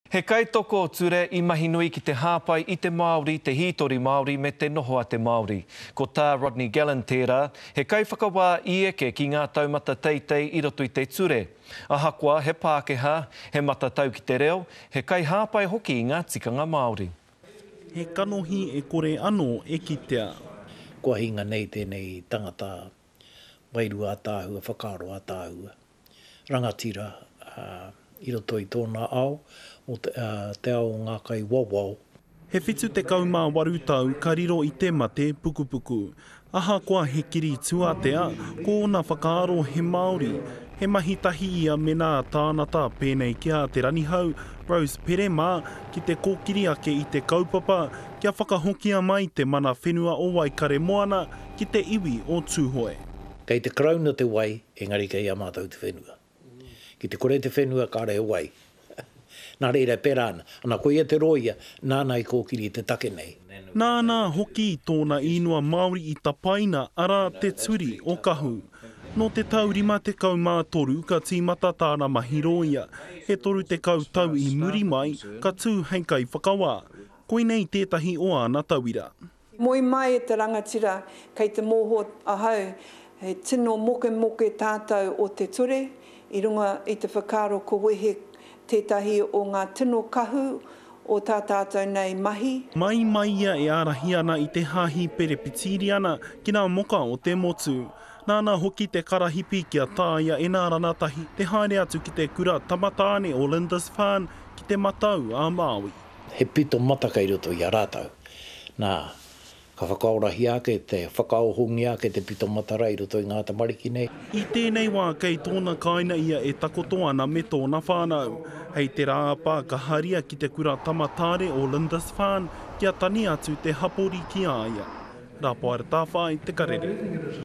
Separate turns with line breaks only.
He kaitoko ture i mahi nui ki te hāpai i te Māori, te hītori Māori me te noho a te Māori. Ko Tā Rodney Gallen tērā, he kaiwhakawā i eke ki ngā taumata teitei i roto i te ture. Ahakoa he Pākehā, he matatau ki te reo, he kaihāpai hoki i ngā tikanga Māori. He
kanohi e kore anō e kitea. Kua hinga
nei tēnei tangata wairua ataahua, whakaaro ataahua. rangatira i roto i tōna ao, te ao o ngā kai wawao. He
78 tau ka riro i te mate pukupuku. Ahakoa he kiri tuatea, ko ōna whakaaro he Māori, he mahi tahi ia mēnā tānata pēnei ki a Te Ranihau, Rose Pere mā, ki te kōkiri ake i te kaupapa kia whakahokia mai te mana whenua o Waikaremoana ki te iwi o Tūhoe. Kei te Karauna
te wai Engari kei a mātou te whenua. Ki te kore te whenua kāre he wai. Nā reira e pērā ana. Ana koia te rōia nāna i kōkiri i te take nei. Nāna hoki
tōna īnua Māori i tapaina, arā, Te Turi o Kahu. Nō te tau 53 ka tīmata tāna mahi rōia, e 30 tau i muri mai ka tū hei kaiwhakawā. Koinei tētahi o āna tauira. Moe mai e
te rangatira, kei te moho ahau he tino mokemoke tātou o te ture, i runga i te whakaaro ko wehe tētahi o ngā tino kahu o tā tātou nei mahi. Mai mai ia e
ārahi ana i te Hāhi Perepitiriana ki nā moka o te motu. Nāna hoki te karahipi kia tāia e nā ranatahi te haere atu ki te kura tamatāne o Lindisfarne ki Te Matau-a-Māui. he pito mata
kei roto i a rātou. Nā, ka whakaorahia ake, te whakaohongia ake te pito matara i roto i ngā tamariki nei. I tēnei wā
kei tōna kāina ia e takoto ana me tōna whānau. Hei te rā a Pā ka haria ki te kura tamataare o Lindisfarne kia tani atu te hapori ki a ia. Rapoar Tāwhai, Te Karere.